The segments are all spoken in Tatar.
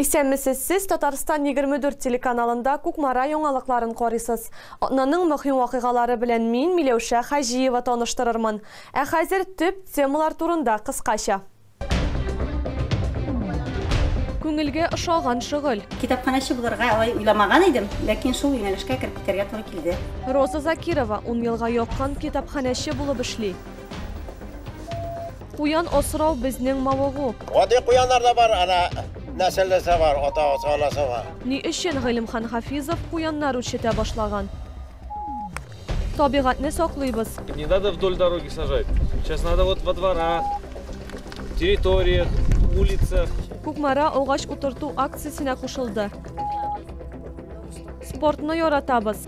Исәнмесез, сез Татарстан егерме дүрт телеканалында Кукмара яңалыкларын карыйсыз. Атнаның мөһим вакыйгалары белән мин Миләүшә Хаҗиева таныштырырмын. Ә хәзер төп темалар турында кыскача. Күңелгә ошаган шөгыль. Китапханәче булырга алай уйламаган идем, ләкин шул юнәлешкә кереп китәргә туры килде. Роза Закирова ун елга якын китапханәче булып эшли. Куян асрау безнең мавыгу. Гади куяннар да бар, ана нәселлесе бар, ата анасы бар. Ни өчен Гыйлемхан Хафизов куяннар үрчетә башлаган? Табигатьне саклыйбыз. Не надо вдоль дороги сажать. Сейчас надо вот во дворах, территориях, улицах. Кукмара агач утырту акциясенә кушылды. Спортны яратабыз.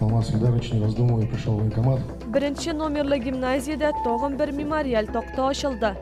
Алмаз Ильдарович, не раздумывая, пришел в военкомат. Беренче номерлы гимназиядә тагын бер мемориаль такта ачылды.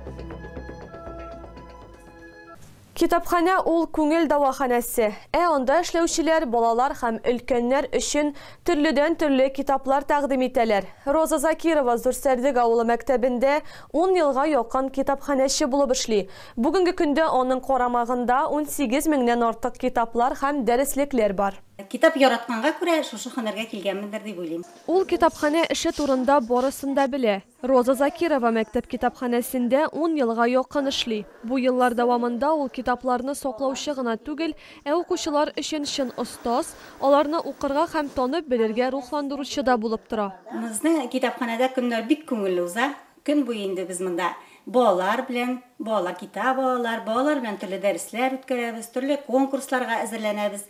Китапханә ул күңел дәваханәсе. Ә анда эшләүчеләр балалар һәм өлкәннәр өчен төрледән төрле китаплар тәкъдим итәләр. Роза Закирова Зурсәрдек авылы мәктәбендә 10 елга якын китапханәче булып эшли. Бүгенге көндә аның карамагында 18 меңнән артык китаплар һәм дәреслекләр бар. Китап яратканга күрә шушы һөнәргә килгәнмендер дип уйлыйм. Ул китапханә эше турында барысын да белә. Роза Закирова мәктәп китапханәсендә ун елга якын эшли. Бу еллар дәвамында ул китапларны саклаучы гына түгел, ә укучылар өчен чын остаз, аларны укырга һәм танып белергә рухландыручы да булып тора. Безнең китапханәдә көннәр бик күңелле уза. Көн буе инде без монда балалар белән, балалар китап алалар, балалар белән төрле дәресләр үткәрәбез, төрле конкурсларга әзерләнәбез.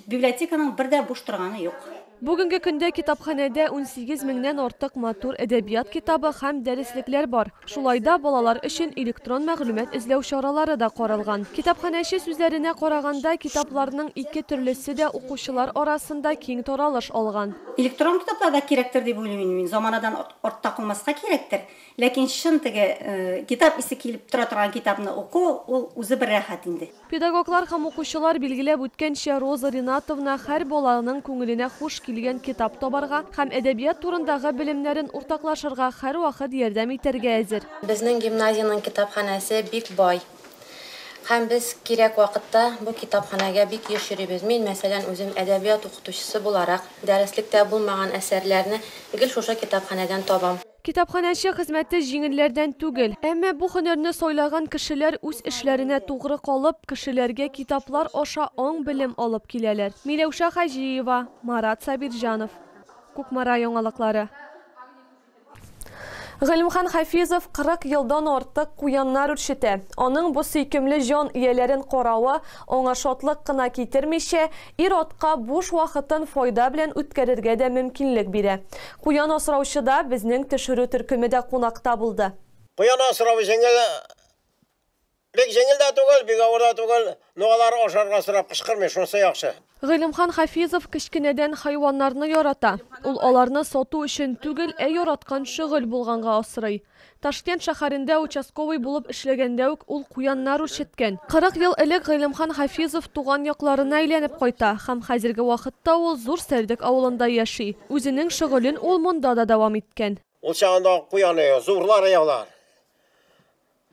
Библиотеканың бер дә буш торганы юк. Бүгенге көндә китапханәдә унсигез меңнән артык матур әдәбият китабы һәм дәреслекләр бар. Шулай да балалар өчен электрон мәгълүмат эзләү чаралары да каралган. Китапханәче сүзләренә караганда, китапларның ике төрлесе дә укучылар арасында киң таралыш алган. Электрон китаплар да кирәктер дип уйлыйм инде мин. Заманадан артта калмаска кирәктер, ләкин чын теге китап исе килеп тора торган китапны уку, ул үзе бер рәхәт инде. Педагоглар һәм укучылар билгеләп үткәнчә, Роза Ринатовна һәр баланың күңеленә хуш килгән китап табарга һәм әдәбият турындагы белемнәрен уртаклашырга һәрвакыт ярдәм итәргә әзер. Безнең гимназиянең китапханәсе бик бай. Һәм без кирәк вакытта бу китапханәгә бик еш йөрибез. Мин, мәсәлән, үзем әдәбият укытучысы буларак, дәреслектә булмаган әсәрләрне гел шушы китапханәдән табам. Китапханәче хезмәте җиңелләрдән түгел. Әмма бу һөнәрне сайлаган кешеләр үз эшләренә тугры калып, кешеләргә китаплар аша аң-белем алып киләләр. Миләүшә Хаҗиева, Марат Сабирҗанов. Кукмара яңалыклары. Гыйлемхан Хафизов 40 елдан артык куяннар үрчетә. Аның бу сөйкемле җан ияләрен каравы аңа шатлык кына китермичә, ир-атка буш вакытын файда белән үткәрергә дә мөмкинлек бирә. Куян асраучыда безнең төшерү төркеме дә кунакта булды. Куян асрау өчен генә Бик җиңел дә түгел, бик авыр да түгел, но алар ашарга сорап кычкырмый, шунысы яхшы. Гыйлемхан Хафизов кечкенәдән хайваннарны ярата. Ул аларны сату өчен түгел, ә яраткан шөгыль булганга асрый. Ташкент шәһәрендә участковый булып эшләгәндә үк ул куяннар үрчеткән. Кырык ел элек Гыйлемхан Хафизов туган якларына әйләнеп кайта һәм хәзерге вакытта ул Зур Сәрдек авылында яши. Үзенең шөгылен ул монда да дәвам иткән. Ул чагында куяны, зурлар яулар.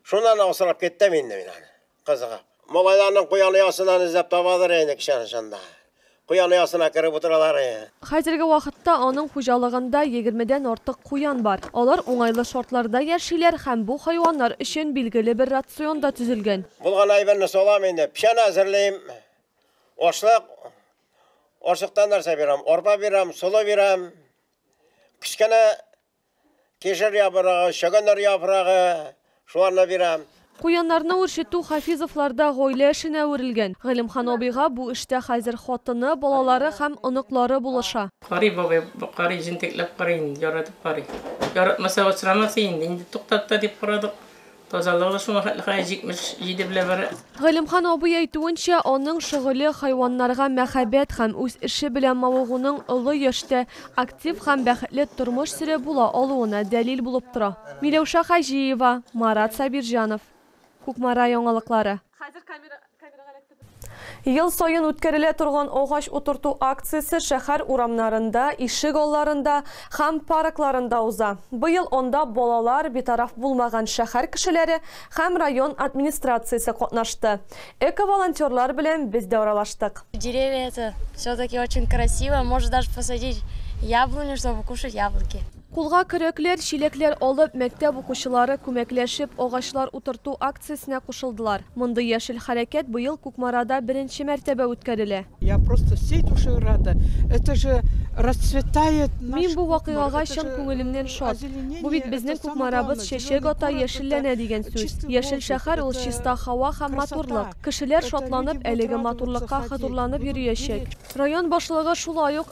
Шуннан асрап киттем инде мин аны, кызыгып. Малайларның куян оясыннан эзләп табадыр инде кичәнең чынында. Куян оясына кереп утыралар иде. Хәзерге вакытта аның хуҗалыгында егермедән артык куян бар. Алар уңайлы шартларда яшиләр һәм бу хайваннар өчен билгеле бер рацион да төзелгән. Булган әйберне салам инде, печән әзерлим, ашлык, ашлыктан нәрсә бирәм, арпа бирәм, солы бирәм, кечкенә Кишер яфрагы, чөгендер яфрагы, шуларны бирәм. Куяннарны үрчетү Хафизовларда гаилә эшенә әверелгән. Галимхан абыйга бу эштә хәзер хатыны, балалары һәм оныклары булыша. Карый бабай, карый, җентекләп карый инде, яратып карый. Яратмаса, асрамас инде. Инде туктатты дип карадык, Тазалыгы шуңа хәтле хәер 77 белән бара. Галимхан абый әйтүенчә, аның шөгыле, хайваннарга мәхәббәт һәм үз эше белән мавыгуның олы яшьтә актив һәм бәхетле тормыш сөрә була алуына дәлил булып тора. Миләүшә Хаҗиева, Марат Сабирҗанов. Кукмара яңалыклары. Ел саен үткәрелә торган агач утырту акциясе шәһәр урамнарында, ишек алларында һәм паркларында уза. Быел анда балалар, битараф булмаган шәһәр кешеләре һәм район администрациясе катнашты. Эко-волонтерлар белән без дә аралаштык. Деревья это все-таки очень красиво, может даже посадить яблоню, чтобы кушать яблоки. Кулга көрәкләр, чиләкләр алып, мәктәп укучылары, күмәкләшеп, агачлар утырту акциясенә кушылдылар. Мондый яшел хәрәкәт быел Кукмарада беренче мәртәбә үткәрелә. Я просто всей душой рада. Это же расцветает наш Кукмар. Мин бу вакыйгага чын күңелемнән шат. Бу бит безнең Кукмарабыз чәчәк ата, яшелләнә дигән сүз. Яшел шәһәр ул чиста һава һәм матурлык. Кешеләр шатланып, әлеге матурлыкка хозурланып йөриячәк. Район башлыгы шулай ук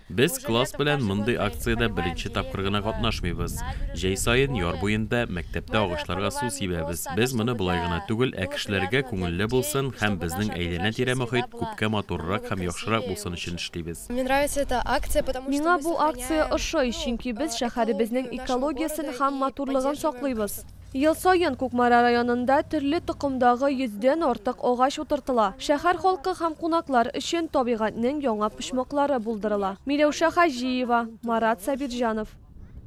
Без класс белән мондый акциядә беренче тапкыр гына катнашмыйбыз. Җәй саен яр буенда, мәктәптә агачларга су сибәбез. Без моны болай гына түгел, ә кешеләргә күңелле булсын һәм безнең әйләнә-тирә мохит күпкә матуррак һәм яхшырак булсын өчен эшлибез. Миңа бу акция ошый, чөнки без шәһәребезнең экологиясен һәм матурлыгын саклыйбыз. Ел саен Кукмара районында төрле токымдагы йөздән артык агач утыртыла. Шәһәр халкы һәм кунаклар өчен табигатьнең яңа почмаклары булдырыла. Миләүшә Хаҗиева, Марат Сабирҗанов.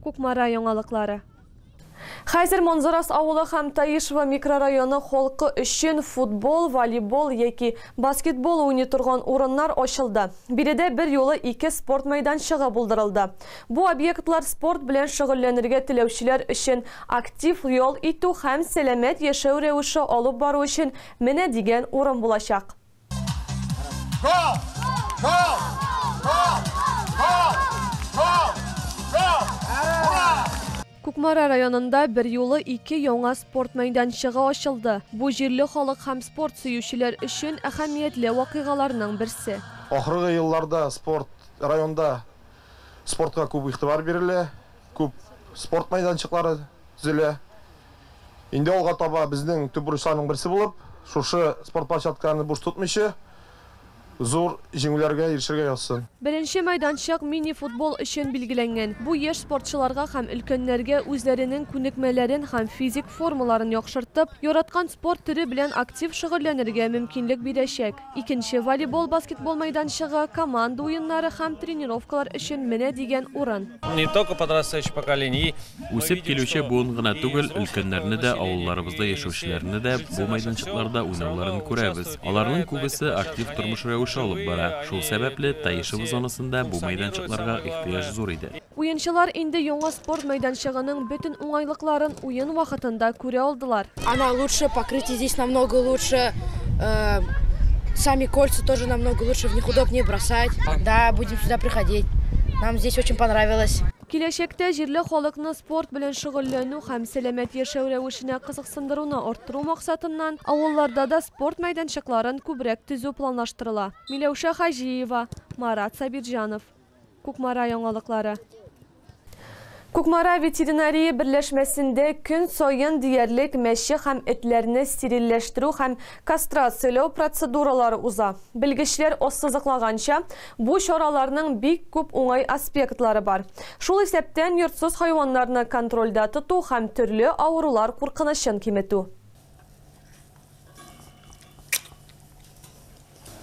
Кукмара яңалыклары. Хәзер Манзарас авылы һәм Таишево микрорайоны халкы өчен футбол, волейбол яки баскетбол уйный торган урыннар ачылды. Биредә берьюлы ике спорт мәйданчыгы булдырылды. Бу объектлар спорт белән шөгыльләнергә теләүчеләр өчен, актив ял итү һәм сәламәт яшәү рәвеше алып бару өчен менә дигән урын булачак. Кукмара районында берьюлы ике яңа спорт мәйданчыгы ачылды. Бу җирле халык һәм спорт сөючеләр өчен әһәмиятле вакыйгаларның берсе. Ахыргы елларда спорт районда Спортка күп игътибар бирелә, күп спорт мәйданчыклары төзелә. Инде алга таба безнең төп бурычларның берсе булып, шушы спорт площадкаларны буш тотмыйчы, зур җиңүләргә ирешергә язсын. Беренче мәйданчык мини-футбол өчен билгеләнгән. Бу яшь спортчыларга һәм өлкәннәргә үзләренең күнекмәләрен һәм физик формаларын яхшыртып, яраткан спорт төре белән актив шөгыльләнергә мөмкинлек бирәчәк. Икенче волейбол, баскетбол мәйданчыгы, команда уеннары һәм тренировкалар өчен менә дигән урын. Үсеп килүче буын гына түгел, өлкәннәрне дә, авылларыбызда яшәүчеләрне дә бу мәйданчыкларда уйнауларын күрәбез. Аларның күбесе актив тормыш рәвеше алып бара. Шул сәбәпле, Таишево зонасында бу мәйданчыкларга ихтыяҗ зур иде. Уенчылар инде яңа спорт мәйданчыгының бөтен уңайлыкларын уен вакытында күрә алдылар. Она лучше, покрытие здесь намного лучше, сами кольца тоже намного лучше, в них удобнее бросать. Да, будем сюда приходить, нам здесь очень понравилось. Киләчәктә җирле халыкны спорт белән шөгыльләнү һәм сәламәт яшәү рәвешенә кызыксындыруны арттыру максатыннан, авылларда да спорт мәйданчыкларын күбрәк төзү планлаштырыла. Миләүшә Хаҗиева, Марат Сабирҗанов. Кукмара яңалыклары. Кукмара ветеринария берләшмәсендә көн саен диярлек мәче һәм этләрне стерильләштерү һәм кастрацияләү процедуралары уза. Белгечләр ассызыклаганча, бу чараларның бик күп уңай аспектлары бар. Шул исәптән йортсыз хайваннарны контрольдә тоту һәм төрле авырулар куркынычын киметү.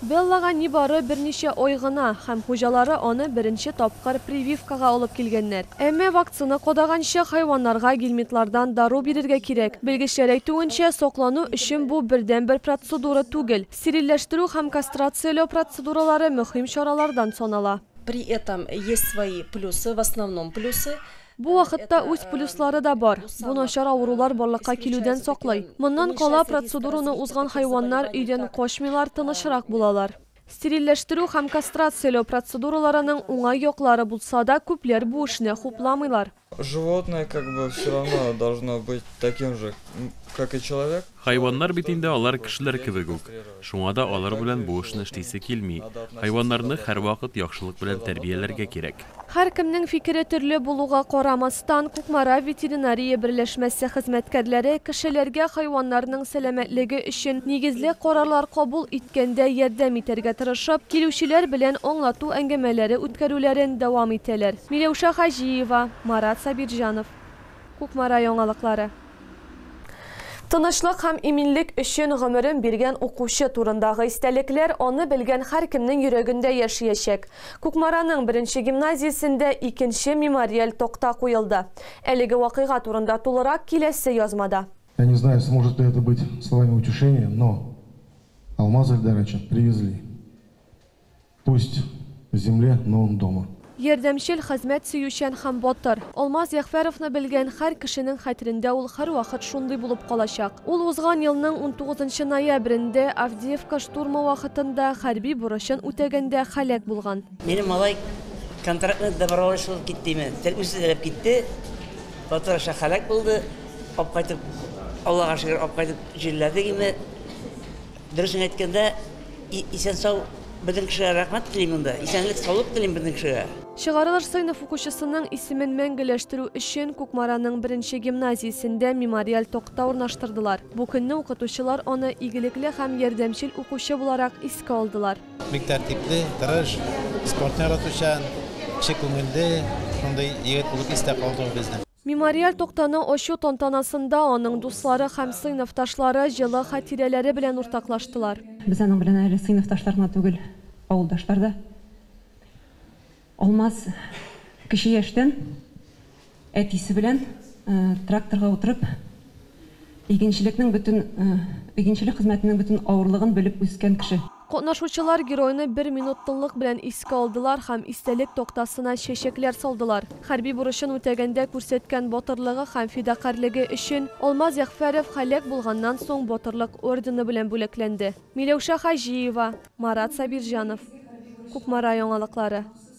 Беллага нибары берничә ай гына, һәм хуҗалары аны беренче тапкыр прививкага алып килгәннәр. Әмма вакцина кадаганчы хайваннарга гельминтлардан дару бирергә кирәк. Белгечләр әйтүенчә, саклану өчен бу бердәнбер процедура түгел. Стерильләштерү һәм кастрацияләү процедуралары мөһим чаралардан санала. При этом есть свои плюсы, в основном плюсы. Бу вакытта үз плюслары да бар, бу начар авырулар барлыкка килүдән саклый. Моннан кала, процедураны узган хайваннар өйдән качмыйлар, тынычрак булалар. Стерильләштерү һәм кастрацияләү процедураларының уңай яклары булса да, күпләр бу эшне хупламыйлар. Животное как бы все равно должно быть таким же, как и человек. Хайваннар бит инде алар кешеләр кебек үк, шуңа да алар белән бу эшне эшлисе килми. Хайваннарны һәрвакыт яхшылык белән тәрбияләргә кирәк. Һәркемнең фикере төрле булуга карамастан, Кукмара ветеринария берләшмәсе хезмәткәрләре кешеләргә хайваннарның сәламәтлеге өчен нигезле карарлар кабул иткәндә ярдәм итәргә тырышып, килүчеләр белән аңлату әңгәмәләре үткәрүләрен дәвам итәләр. Миләүшә Хаҗиева, Марат Сабирҗанов. Кукмара яңалыклары. Тынычлык һәм иминлек өчен гомерен биргән укучы турындагы истәлекләр аны белгән һәркемнең йөрәгендә яшиячәк. Кукмараның беренче гимназиясендә икенче мемориаль такта куелды. Әлеге вакыйга турында тулырак киләсе язмада. Я не знаю, сможет ли это быть словами утешения, но Алмаз Эльдаровича привезли. Пусть земле но он дома. Ярдәмчел, хезмәт сөючән һәм батыр. Алмаз Ягъфәровны белгән һәр кешенең хәтерендә ул һәрвакыт шундый булып калачак. Ул узган елның унтугызынчы ноябрендә, Авдеевка штурмы вакытында, хәрби бурычын үтәгәндә һәлак булган. Минем малай контрактный доброволец булып киттеме, тел үзе теләп китте, батыр аша һәлак булды, апкайтып, Аллага шөкер, апкайтып җирләдегеме. Дөресен әйткәндә, исән-сау безнең кешегә рәхмәт телим монда. Исәнлек, саулык телим безнең кешегә. Чыгарылыш сыйныф укучысының исемен мәңгеләштерү өчен Кукмараның беренче гимназиясендә мемориаль такта урнаштырдылар. Бу көнне укытучылар аны игелекле һәм ярдәмчел укучы буларак искә алдылар. Бик тәртипле, тырыш, спортны яратучан, кече күңелле, шундый егет булып истә калды ул безнең. Мемориаль тактаны ачу тантанасында аның дуслары һәм сыйныфташлары җылы хатирәләре белән уртаклаштылар. Без аның белән әле сыйныфташлар гына түгел, авылдашлар да. Алмаз кече яшьтән әтисе белән тракторга утырып, Игенчелекнең бөтен игенчелек хезмәтенең бөтен авырлыгын белеп үскән кеше. Катнашучылар геройны бер минут тынлык белән искә алдылар һәм истәлек тактасына чәчәкләр салдылар. Хәрби бурычын үтәгәндә күрсәткән батырлыгы һәм фидакарьлеге өчен Алмаз Ягъфәров һәлак булганнан соң Батырлык ордены белән бүләкләнде. Миләүшә Хаҗиева, Марат Сабирҗанов. Кукмара яңалыклары.